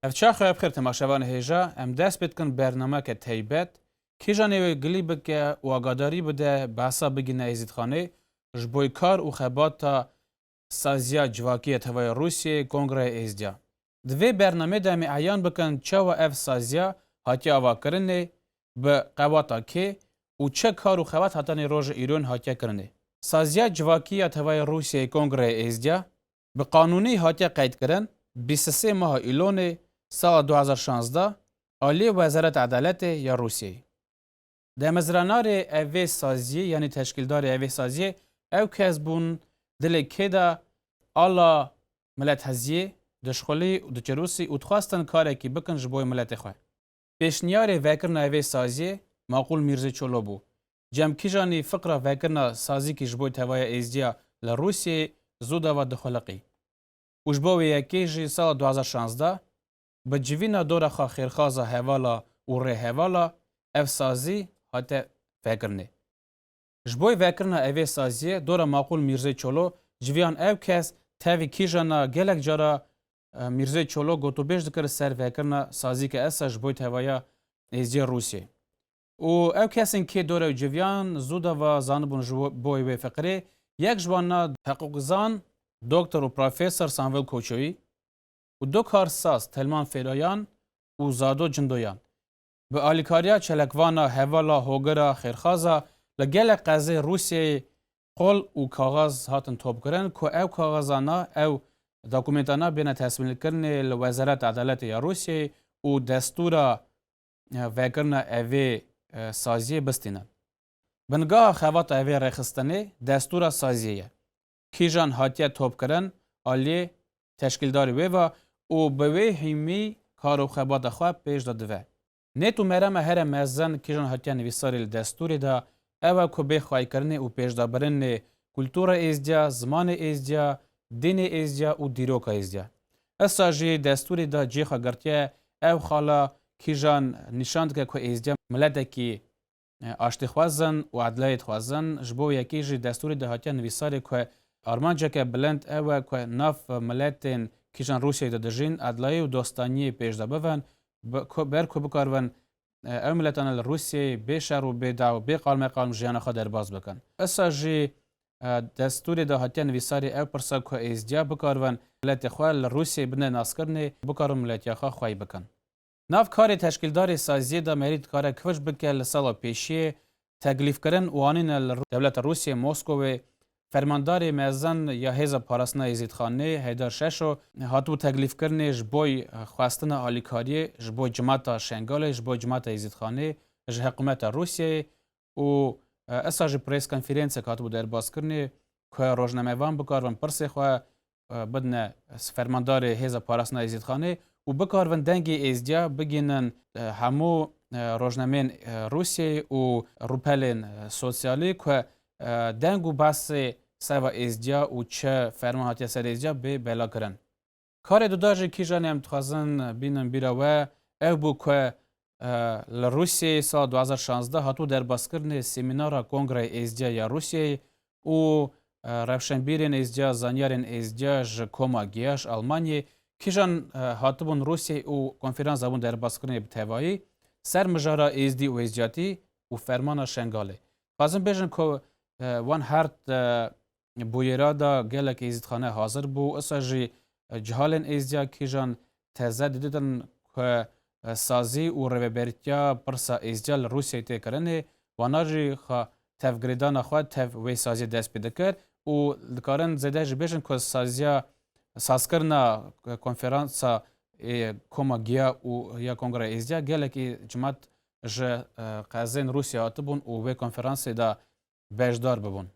Ev çaxo ev xêr temaşevan hêja em dest pê dikin bernameke teybet kêja nêwê gilî bike û agadarî bide behsa bigîne Êzîdxanê ji boy kar û xebata Saziya Civakî ya Tevaya Rûsyayê Kongreyê Êzdya, Di vê bernameyê de em ê eyan bikin çawa ev saziya hatiye avakirinê, bi qewata kê û çi kar û xebat hatanê roja îrûn hatiye kirinê. Saziya Civakî ya Tevaya Rûsyayê Kongreyê Êzdya, bi qanûnî hatiye qeydkirin, bîst û sê maha Îlonê, sala du hezar û şazdeh, aliyê Wezareta Edaletê ya Rûsyayê. Demezranarê ev vê saziyê yanî teşkîldarê ev vê saziyê ew kes bûn dilê kê de ala milet heziyê, dişxulî û diçirûsî û dixwestin karekî bikin ji boy miletê xwe. Pêşniyarê vekirina ev vê saziyê Maqûl Mîrzê Çolo bû. Cemkîjanî fiqra vekirina sazîkî ji boy tevaya êzdiya li Rûsyeyê zû dava dixuliqî û ji bo wê yekê jî sala du hezar û şazdeh Bi civîna dora xwe xêrxaza hevala û rêhevala ev sazî hate vekirinê. Ji bo vekirina evê saziyê dora Maqûl Mîrzê Çolo civiyan ew kes tevî kîjan a gelek cara Mîrzê Çolo gotûbêj dikir ser vekirina sazî ke esa ji bo tevaya êziyê Rûsyê û ew kesên kê dora ew civiyan zû de va zanibûn ji bo wê fiqirê yek ji wan na heqûqzan Doktor û Profesor Sanvel Koçoyî û du karsaz Telman Fêloyan û Zado Cindoyan bi alîkariya çelekvana hevala Hogira Xêrxaza li gelek qezê Rûsyeyê qol û kaxez hatin topkirin ku ew kaxezana ew dokumêntana bêne tesmîlkirinê li Wezareta Edaletê ya Rûsyeyê û destûra vekirina evê saziyê bistînin. Bingeha xevata vê rêxistinê destûra saziyê ye. kîjan hatiye topkirin, aliyê teşkîldarî wê va û bi wê hîmî kar û xebata xwe pêş de dive. Nêt û merama here mezin kîjan hatiye nivîsarî li destûrê de ew e ku bê xwaykirinê û pêşdabirinê kultura êzdiya, zimanê êzdiya, dînê êzdiya û dîroka êzdiya. Issa jî destûrê de cê xwe girtiye ew xala kîjan nîşan dike ku êzdiya miletekî Aştîxwazan û edleyê dixwazin, ji bo yekê jî destûrê de hatiye nivîsarê ku armanceke bilind ew e ku nav miletên kîjan Rûsyayê de dijîn, edleyê û dostaniyê pêşde bibin, ber ku bikaribin ew miletane li Rûsyayê bê şer û bê daw, bê qalmeqalm jiyana xwe derbas bikin. Issa jî destûrê de hatiye nivîsarê ew pirsa ku êzdiya bikaribin miletê xwe li Rûsyayê bine naskirinê û bikaribin miletiya xwe xwey bikin. Nav karê teşkîldarê saziyê de Merî dikare kivij bike li sala pêşiyê teglîfkirin û anîne li dewleta Rûsiyê Moskowê Fermandarê Mezin ya Hêza Parastina Êzîdxanê Heydar Şeşo hatibû teglîfkirinê ji bo xwestina alîkariyê ji bo cimata Şengalê ji bo cimata Êzîdxanê ji hikumeta Rûsiyeyê û esa ji prêskonfîrênsek hatibû derbaskirinê ku rojnamevan bikaribin pirsê xwe bidne fermandarê hêza parastina êzîdxanê û bikaribin dengê êzdiya bigihînin hemû rojnameyên Rûsyeyê û rûpelên sosyalî ku deng û behsê ser va êzdiya û çi ferman hatiye ser êzdiya bê belakirin. Karê di da jî kîjan em dixwazin bînin bîra we ew bû ku li Rûsyeyê sala du hezar û şazdeh hatibû derbazkirinê semînara Kongreyê Êzdîya ya Rûsyeyê û rewşenbîrên êzdîya, zanyarên êzdîya ji koma giya ji Almanyê kîjan hatibûn Rûsyeyê û konfîrans dabûn derbazkirinê bi tevayî ser mijara êzdî û êzdîyatî û fermana Şengalê. Dixwazin bêjin ku wan hert bûyera da gelek êzîdxane hazir bû, isa jî cihalên êzdiya kîjan teze diditin ku sazî û rêvebertiya pirsa êzdiya li Rûsyayê tê kirinê, wana jî xwe tevgirêdana xwe tev wê saziyê dest pê dikir û dikarin zêde jî bêjin ku saziya sazkirina konferansa Koma Giya û ya Kongreya Êzdiya gelekî cimat ji qezên Rûsyayê hatibûn û wê konferansê de beşdar bibûn.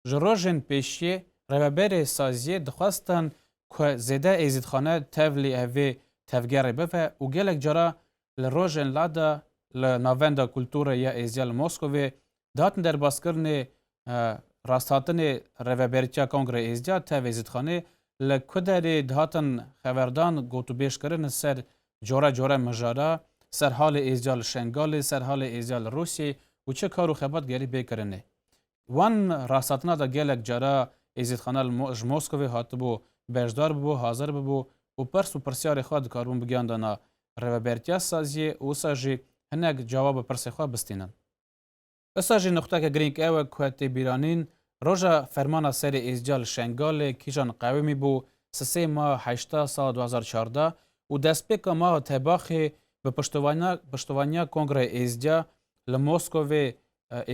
Ji rojên pêşiyê rêveberê saziyê dixwestin ku zêde êzîdxane tevlî ev vê tevgerê bive û gelek cara li rojên lada li Navenda Kulturê ya Êziya li Moskovê dihatin derbaskirinê rasthatinê Rêveberîtiya Kongrê Êziya tev êzîdxanê li ku derê dihatin xeberdan gotûbêj kirin li ser care care mijara ser halê Êziya li Şengalê, ser halê Êziya li Rûsyê û çi kar û xebat gerî bê kirinê. Wan rasthtina de gelek cara Êzîdxana li ji Moskovê hatibû, beşdar bûbû, hazir bûbû û pirs û pirsyarê xwe dikaribûn bigiyandana Rêvebertiya Saziyê û wisa jî hinek cawab bi pirsê xwe bistînin. Wisa jî nuqteke girîng ew e ku tê bîranîn, roja fermana serê Êzdiya li Şengalê kîjan qewimî bû, sisê maha heşta sala du hezar û çardeh û destpêka maha Tebaxê bi piştovanîna piştovaniya Kongreyê Êzdiya li Moskovê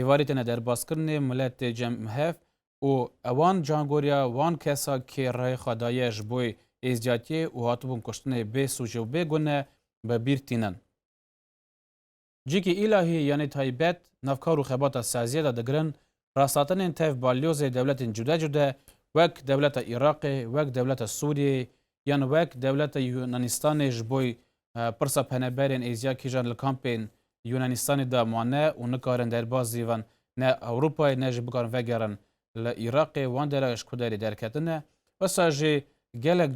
êvarê têne derbaskirinê milet tê cem hev û ewan cangoriya wan kesa kê rayê xwe daye ji boê êziyatiyê û hatibûn kuştinê bê sûcê û bê gune bi bîr tînin. Cikî îlahî yanî taybet navkar û xebata saziyê de digirin rastatinên tev balyozê dewletên cude cude wek dewleta Îraqê, wek dewleta Sûriyeyê yan wek dewleta Yunanîstanê ji boê Pirsa peneberên Êziya Kîjan li kampên Yûnanîstanê de mane û nikarin derbas zî bin ne Ewropayê ne jî bikarin vegerin li Îraqê, wan derewên ji ku derê derketine. Wisa jî gelek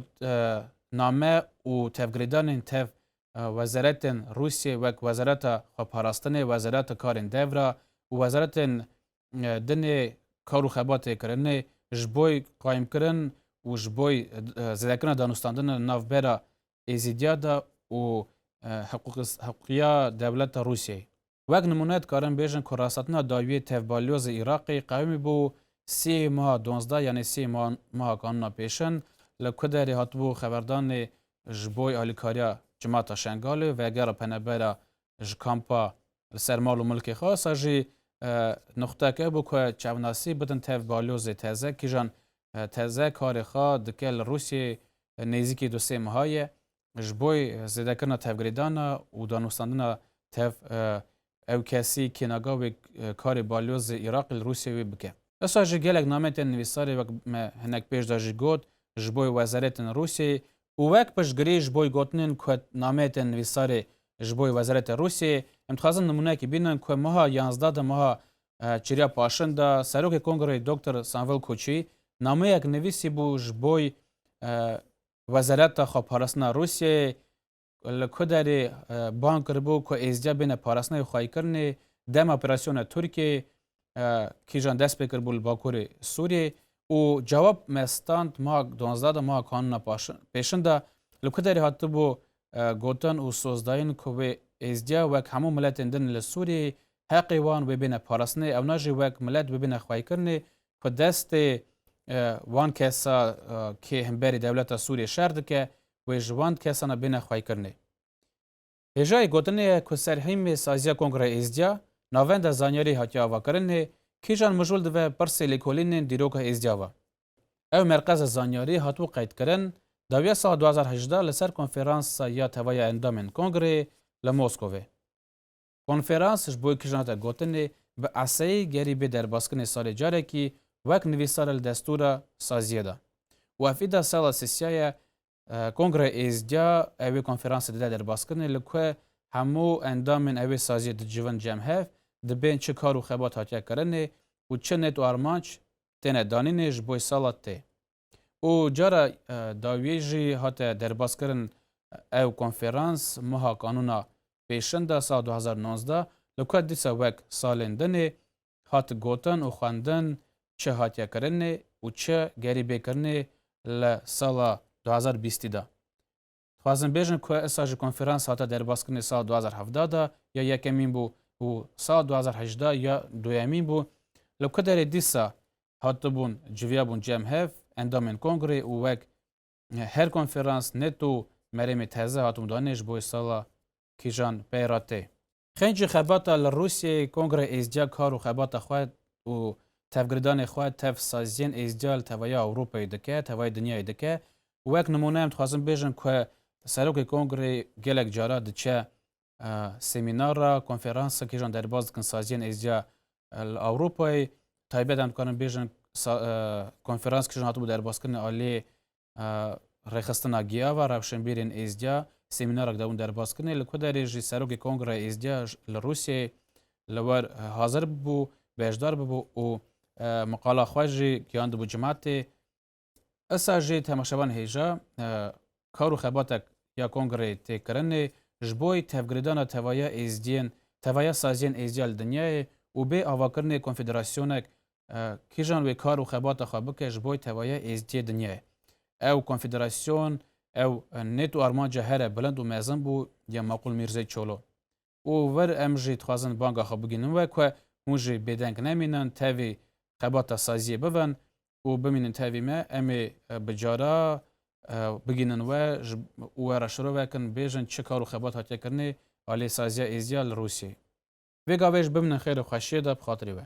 name û tevgirêdanên tev wezaretên Rûsyê wek Wezareta Xweparastinê, Wezareta Karên Devra û wezaretên dinê kar û xebatê kirinê ji boy qayîmkirin û ji boy zêdekirina danûstandina navbera Êzîdiya de û hiqûqiya dewleta Rûsyayê. Wek nimûne dikarin bêjin ku rastetina dawiyê tev balyozê Iraqê qewimî bû sê meha duwazdeh yanê sê meha kanûna pêşin li ku derê hatibû xeberdanê ji bo alîkariya cemata Şengalê vegera penebera ji kampa li ser mal û milkê xwe sa jî nuxtek ew bû ku çavnasî bidin tev balyozê teze kîjan teze karê xwe dike li Rûsyê nêzîkî du sê meha ye ji bo zêdekirina tevgirêdana û danûstandina tev ew kesî kênaga wê karê balyozê Îraqê li Rûsyê wê bike. Disa jî gelek nameyên tên nivîsarê wek me hinek pêş de jî got ji bo wezarêtên Rûsyeyê û wek piştgirî ji boy gotinên ku nameyê tên nivîsarê ji boy Wezeretê Rûsyeyê, em dixwazin nimûneyekî bînin ku meha yazdeh di meha çêriya paşin de Serokê Kongreyê Doktor Sanvil Koçî nameyek nivîsîbû ji boy Wezereta Xweparastina Rûsyeyê li ku derê bang kiribû ku êzdiya bêne parastina yê xwayîkirinê dema operasyona Tirkiyeyê kîjan dest pê kiribû li Bakurê Sûriyeyê û cewab me stand meha duwazdeh de meha kanûna pêşin de li ku derê hatibû gotin û sozdayîn ku wê êzdiya wek hemû miletên din li Sûriyeyê heqê wan wê bêne parastinê ewna jî wek milet wê bêne xwaykirinê ku destê wan kesa kê himberî dewleta Sûriyê şer dike wê ji wan kesana bêne xwaykirinê. Hêjayê gotinê ye ku serhîmê saziya Kongre Êzdiya, navenda zanyarî hatiye avakirinê, kîjan mijûl dive pirsê lêkolînên dîroka Êzdiya ve. Ew merqeza zanyarî hatibû qeydkirin, dawiya sala du hezar hejdeh li ser konferansa ya teva ya endamên Kongreyê li Moskovê. Konferans ji bo kîjan hate gotinê bi eseyî gerî bê derbaskinê salê carekî wek nivîsare li destûra saziyê de û ev îda sala sisiya ye Kongre Êzdya ew ê konferansê dide derbaskinê li ku hemû endamên ew ê saziyê dicivin cem hev, dibên çi kar û xebat hatiye kirinê û çi nêt û armanc têne danînê ji boy sala tê û cara dawiyê jî hate derbaskirin ew konferans meha kanûna pêşinda sala du hezar û nozda li ku dîsa wek salên dinê hat gotin û xwendin çi hatiye kirinê û çi gerî bê kirinê li sala du hezar û bîst de. Dixwazin bêjin ku isa ji konferans hate derbazkirinê sala du hezar û hevdeh de ya yekemîn bû û sala du hezar û hejdeh ya duyemîn bû. Li ku derê dîsa hatibûn civiyabûn cem hev endamên kongrê û wek her konferans, neto û merêmê teze hatibûn danê ji bo wê sala kîjan pey re tê. Xencî xebata li Rûsyeyê Kongre Êzdya kar û xebata xwe û tevgiridanê xwe tev saziyên êzdya li tevaya Ewropayê dike, tevayê dinyayê dike û wek nimûne em dixwazin bêjin ku Serokê Kongrê gelek cara diçe semînar ra, konferans ra kîjan derbas dikin saziyên êzdya li Ewropayê. Taybet em dikarin bêjin konferans kîjan hatibû derbaskirinê aliyê Rêxistina Giyava Rewşenbîrên Êzdiya semînarek dewin derbaskirinê, li ku derê jî Serokê Kongreya Êzdiya li Rûsyeyê li wer hazir bû, beşdar bû û miqala xwe jî giyandibû cimatê. Esa jî temaşevan hêja kar û xebatek ya kongreyê tê kirinê ji bo tevgirêdana tevaya êzdiyên tevaya saziyên êzdiya li dinyayê û bê avakirinê konfederasyonek kîjan wê kar û xebata xwe bike ji boy tevaya êzdiyê dinyayê. Ew konfederasyon, ew nêt û armanca here bilind û mezin bû ya Maqûl Mîrzey Çolo. Û wir em jî dixwazin banga xwe bigihînin we ku hûn jî bêdeng nemînin, tevî xebata saziyê bibin û bimînin tevî me, em ê bi cara bigihînin we û we re şiro vekin, bêjin çi kar û xebat hatiye kirinê aliyê saziya êzdiya li Rûsyeyê. Vê gavê jî bimînin xêr û xweşiyê de bi xatirî we.